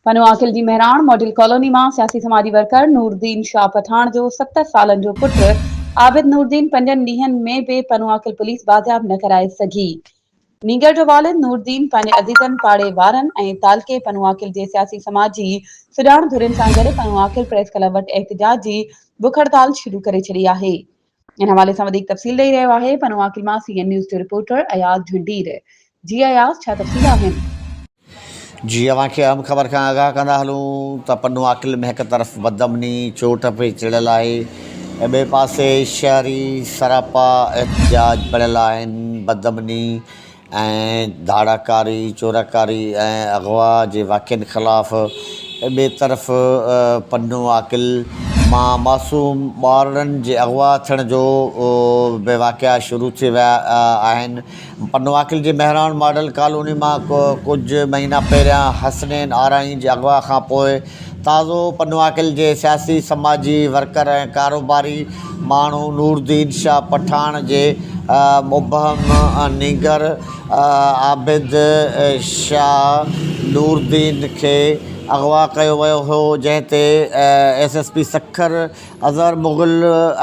پنو عاقل جي Mehran model colony مان سياسي سماجي ورڪر نوردين شاهه پٺاڻ جو ست سالن جو پٽ عابد نوردين پنجن ڏينهن ۾ به پنو عاقل پوليس بازياب نه ڪرائي سگهي. نينگر جو والد نوردين پنهنجي عزيزن پاڙي وارن ۽ تعلقي پنو عاقل جي سياسي سماجي سڄاڻ ڌرين سان گڏ پنو عاقل پريس ڪلب وٽ احتجاج جي بک هڙتال شروع ڪري ڇڏي آهي. ان حوالي سان وڌيڪ تفصيل ڏئي رهيو آهي پنوان ڪلمان سي اين نيوز جو رپورٽر اياز جهنڊير جي اياز ڇا تفصيل آهن. جي اوهان کي اهم خبر کان آگاهه ڪندا هلون ته پنوان ڪلم هڪ طرف بدامني چوٽ پي چڙهيل آهي ۽ ٻئي پاسي شهري سراپا احتجاج بڻيل آهن بدامني ۽ ڌاڙاڪاري، چوراڪاري ۽ اغوا جي واقعن خلاف ٻئي طرف پنو عاقل مان معصوم ٻارڙن جي اغوا ٿيڻ جو به واقعا شروع ٿي ويا آهن. پنو عاقل جي مهراڻ ماڊل ڪالوني مان ڪجهه مهينا پهريان حسنين آرائين جي اغوا کانپوء تازو پنواڪل جي سياسي، سماجي ورڪر ۽ ڪاروباري ماڻهو نورالدين شاهه پٺاڻ جي مبهم نينگر عابد شاهه نورالدين کي اغوا ڪيو ويو هو، جنهن تي S S P Sukkur Azhar Mughal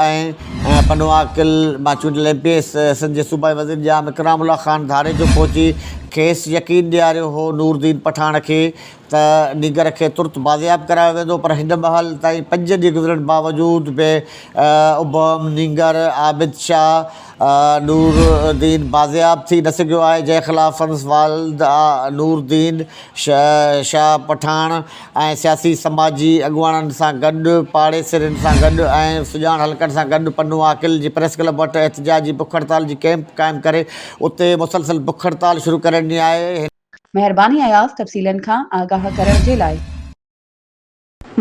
۽ پنواڪل مان چونڊيل ايم پي اي سنڌ جي صوبائي وزير ڄام اڪرام الله خان ڌاڙيجو پهچي کيس يقين ڏياريو هو نورالدين پٺاڻ کي ته نينگر کي ترت بازياب ڪرايو ويندو پر هن مهل تائين پنج ڏينهن گذرڻ باوجود به ابهم نينگر عابد شاهه نور الدين بازياب ٿي نه سگهيو آهي جنهن خلاف سندس والد نور الدين شاهه پٺاڻ ۽ سياسي سماجي اڳواڻن سان گڏ پاڙيسرين سان گڏ ۽ سڄاڻ حلقن سان گڏ پنو عاقل جي پريس ڪلب وٽ احتجاجي بک هڙتال جي ڪئمپ قائم ڪري اتي مسلسل بک هڙتال شروع ڪري ڏني آهي مهرباني اياز تفصيلن کان آگاهه ڪرڻ جي لاء.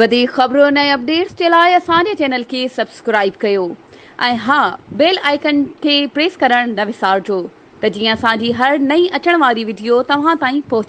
وڌيڪ خبرن ۽ اپڊيٽس جي لاء اسان جي چينل کي سبسڪرائيب ڪيو ۽ ها بيل آئيڪن کي پريس ڪرڻ نه وسارجو ته جيئن اسان جي هر نئين اچڻ واري وڊيو توهان تائين پهچي